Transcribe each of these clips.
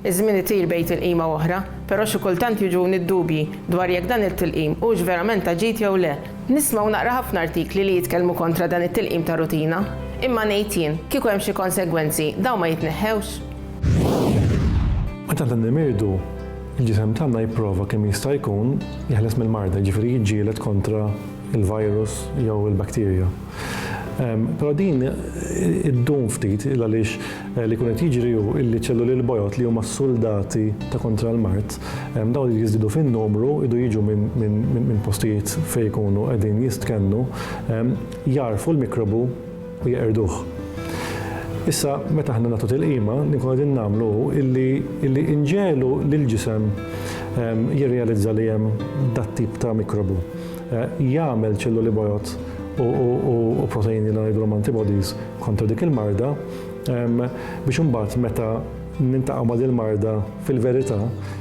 Iż-żmien itir bejn tilqima u oħra, però xi kultant jiġuni d-dubji dwar jekk dan it-tilqim hux verament ta' ġid jew le. Nisma' u naqra ħafna artikli li jitkellmu kontra dan it-tilqim ta' rutina. Imma ngħid jien, kieku hemm xi konsegwenzi, dawn ma jitneħħewx? Meta aħna nimirdu, il-ġisem tagħna jipprova kemm jista' jkun jeħles mill-marda, jiġifieri jiġġieled kontra l-virus jew il-bakterja. Però din iddum ftit għaliex li jkun qed jiġri hu illi ċelluli l-bojod li huma s-suldati ta' kontra l-mard, dawn li jiżdiedu fin-numru jdu jiġu minn postijiet fejn ikunu qegħdin jistkennu, jagħrfu l-mikrobu u jeqirduh. Issa meta aħna nagħtu tilqima li nkunu qegħdin nagħmlu hu illi inġegħlu lill-ġisem jirrealizza li hemm dat-tip ta' mikrobu. jagħmel ċelluli bojod u proteini li ngħidulhom antibodies kontra dik il-marda biex imbagħad meta nintaqgħu ma' din marda fil-verità,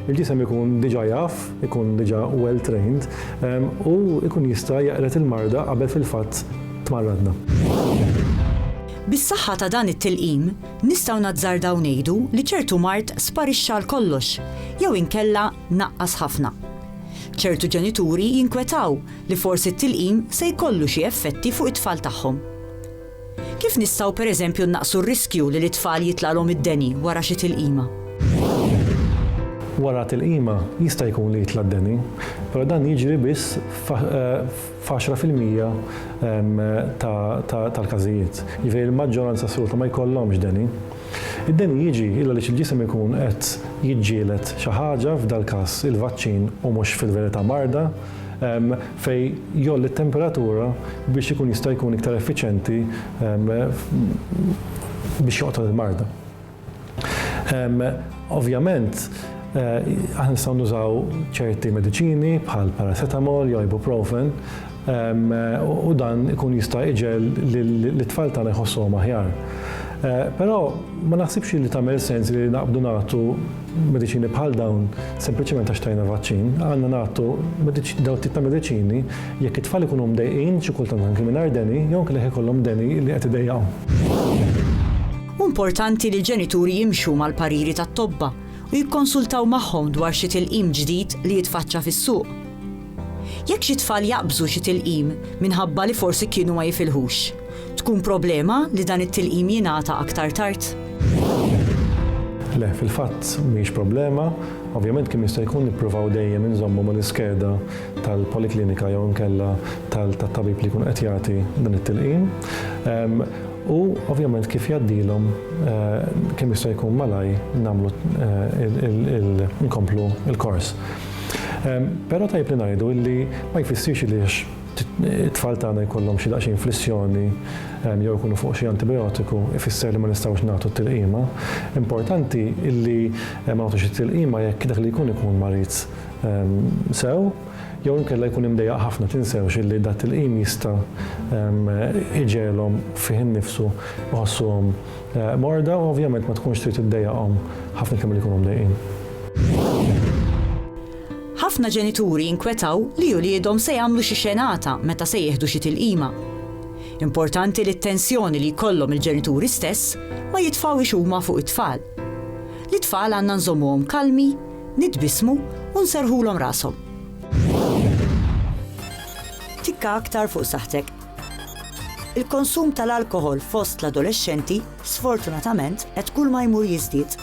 il-ġisem ikun diġà jaf, ikun diġà well trained u ikun jista' jaqred il-marda qabel fil-fatt tmarradna. Bis-saħħa ta' dan it-tilqim, nistgħu nazzardaw ngħidu li ċertu mard sparixxa għal kollox jew inkella naqqas ħafna. Ċertu ġenituri jinkwetaw li forsi t-tilqim se jkollu xi effetti fuq it-tfal tagħhom. Kif nistgħu pereżempju nnaqqsu r-riskju li lit-tfal jitlagħlhom id-deni wara xi tilqima? Wara tilqima jista' jkun li jitla' d-deni, però dan jiġri biss f'għaxra fil-mija tal-każijiet. Jiġifieri l-maġġoranza assoluta ma jkollhomx deni. Id-deni jiġi illa għaliex il-ġisem ikun qed jiġġieled xi ħaġa, f'dal-każ il-vaċċin u mhux fil-verità marda, fejn jgħolli t-temperatura biex ikun jista' jkun iktar effiċjenti biex joqtol il-marda. Ovvjament, aħna nistgħu nużaw ċerti mediċini bħall-paracetamol jew ibuprofen, u dan ikun jista' iġegħel lit-tfal tagħna jħossuhom aħjar. Però ma naħsibx li tagħmel sens li naqbdu nagħtu mediċini bħal dawn sempliċement għax tajna vaċċin. Għandna nagħtu dawn tip ta' mediċini jekk it-tfal ikunu mdejqin, xi kultant anki mingħajr deni, jew anki jekk ikollhom deni li qed idejjaqhom. Hu importanti li l-ġenituri jimxu mal-pariri tat-tobba u jikkonsultaw magħhom dwar xi tilqim ġdid li jitfaċċa fis-suq. Jekk xi tfal jaqbżu xi tilqim minħabba li forsi kienu ma jifilħux, tkun problema li dan it-tilqim jingħata aktar tard? Le, fil-fatt mhix problema. Ovvjament kemm jista' jkun nippruvaw dejjem inżommu mal-iskeda tal-poliklinika jew inkella tat-tabib li jkun qed jagħti dan it-tilqim. Ehm, u ovvjament kif jgħaddilhom eh, kemm jista' jkun malaj nagħmlu eh, nkomplu l-kors. Però tajjeb li ngħidu illi ma jfissirx illi għax it-tfal tagħna jkollhom xi daqsxejn flissjoni jew ikunu fuq xi antibijotiku ifisser li ma nistgħux nagħtu t-tilqima. Importanti illi ma nagħtux it-tilqima jekk dak li jkun ikun marid sew jew inkella jkun imdejjaq ħafna. Tinsewx illi dat-tilqim jista' iġegħelhom fih innifsu jħossuhom Morda u ovvjament ma tkunx trid iddejjaqhom ħafna iktar milli jkunu mdejqin. Ħafna ġenituri jinkwetaw li uliedhom se jagħmlu xi xenata meta se jieħdu xi tilqima. Importanti li t-tensjoni li jkollhom il-ġenituri stess ma jitfgħuhiex huma fuq it-tfal. Lit-tfal għandna nżommuhom kalmi, nitbissmu u nserrħulhom rashom. Tikka aktar fuq saħħtek. Il-konsum tal-alkoħol fost l-adolexxenti, sfortunatament, qed kull ma jmur jiżdied.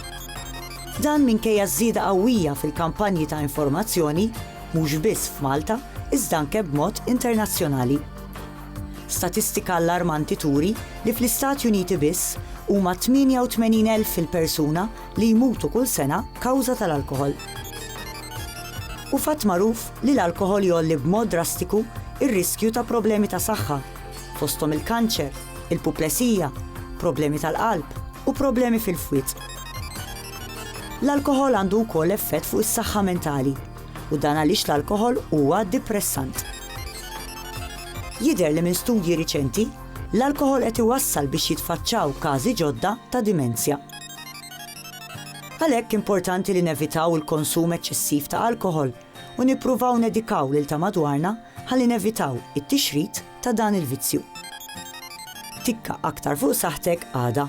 Dan minkejja ż-żieda qawwija fil-kampanji ta' informazzjoni, mhux biss f'Malta, iżda anke b'mod internazzjonali. Statistika allarmanti turi li fl-Istati Uniti biss, huma 88,000 il-persuna li jmutu kull sena kawża tal-alkoħol. Hu fatt magħruf li l-alkoħol jgħolli b'mod drastiku r-riskju ta' problemi ta' saħħa, fosthom il-kanċer, il-puplesija, problemi tal-qalb u problemi fil-fwied. L-alkoħol għandu wkoll effett fuq is-saħħa mentali u dan għaliex l-alkoħol huwa dipressant. Jidher li minn studji riċenti, l-alkoħol qed iwassal biex jitfaċċaw każi ġodda ta' dimensja. Għalhekk importanti li nevitaw il-konsum eċċessiv ta' alkoħol u nippruvaw nedikaw lil ta' madwarna ħalli nevitaw it-tixrid ta' dan il-vizzju. Tikka aktar fuq saħħtek għada.